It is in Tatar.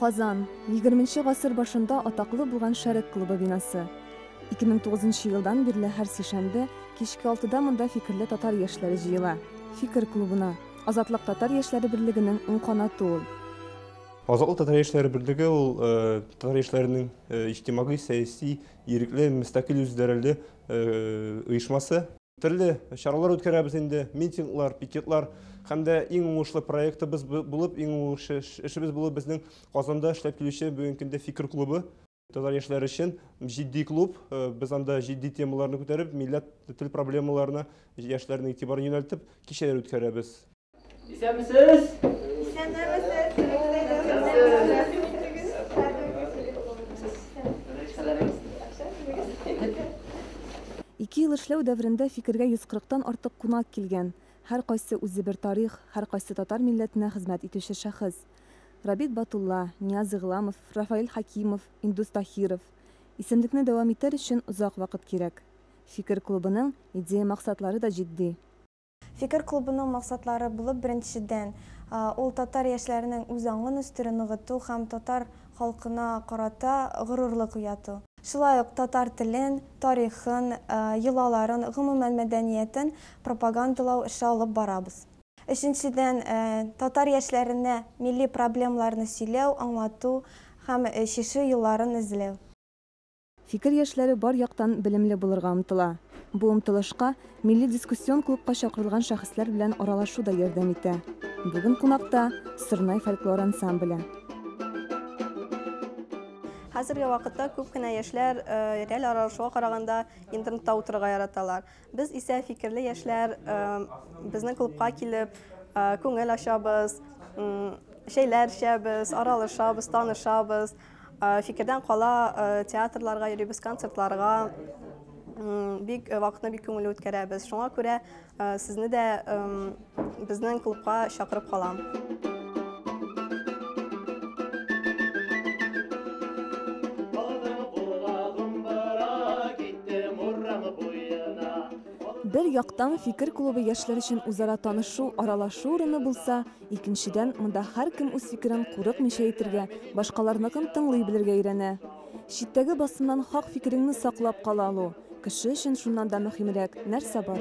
Казан. Егерменче гасыр башында атаклы булган Шәрык клубы бинасы. 2009 елдан бирле һәр сишәмбе кичке алтыда монда фикерле татар яшьләре җыела. Фикер клубына. Азатлык татар яшьләре берлегенең уң канаты ул. Азатлык татар яшьләре берлеге ул э, татар яшьләренең э, иҗтимагый, сәяси, ирекле, мөстәкыйль үзләреле э, оешмасы. Төрле чаралар үткәрәбез инде, митинглар, пикетлар һәм дә иң уңышлы проектыбыз булып, иң уңышлы эшебез булып безнең Казанда эшләп килүче бүгенге көндә Фикер клубы. Татар яшьләре өчен җитди клуб. Э, без анда җитди темаларны күтәреп, милләт тел проблемаларына яшьләрнең игътибарын юнәлтеп, кичәләр үткәрәбез. Исәнмесез! Исәнмесез! Ике ел эшләү дәверендә Фикергә 140-тан артык кунак килгән. Һәркайсы үзе бер тарих, һәркайсы татар милләтенә хезмәт итүче шәхес. Рабит Батулла, Нияз Игъламов, Рафаэль Хәкимов, Индус Таһиров. Исемлекне дәвам итәр өчен озак вакыт кирәк. Фикер клубының идея-максатлары да җитди. Фикер клубының максатлары булып беренчедән, ул татар яшьләренең үз аңын үстерү, ныгыту һәм татар халкына карата горурлык уяту. Шулай ук татар телен, тарихын, йолаларын, гомумән мәдәниятен пропагандалау эше алып барабыз. Өченчедән, татар яшьләренә милли проблемаларны сөйләү, аңлату һәм чишү юлларын эзләү. Фикер яшьләре бар яктан белемле булырга омтыла. Бу омтылышка милли дискуссион клубка чакырылган шәхесләр белән аралашу да ярдәм итә. Бүген кунакта, Сырнай фольклор ансамбле. Хәзерге вакытта күп кенә яшьләр реаль аралашуга караганда интернетта утырырга яраталар. Без исә фикерле яшьләр безнең клубка килеп күңел ачабыз, чәйләр эчәбез, аралашабыз, танышабыз. Фикердән кала театрларга йөрибез, концертларга бик вакытны бик күңелле үткәрәбез. Шуңа күрә сезне дә безнең клубка чакырып калам. Бер яктан фикер клубы яшьләр өчен үзара танышу, аралашу урыны булса, Икенчедән, монда һәркем үз фикерен курыкмыйча әйтергә, башкаларныкын тыңлый белергә өйрәнә. Читтәге басымнан хак фикереңне саклап кала алу, кеше өчен шуннан да мөһимрәк нәрсә бар?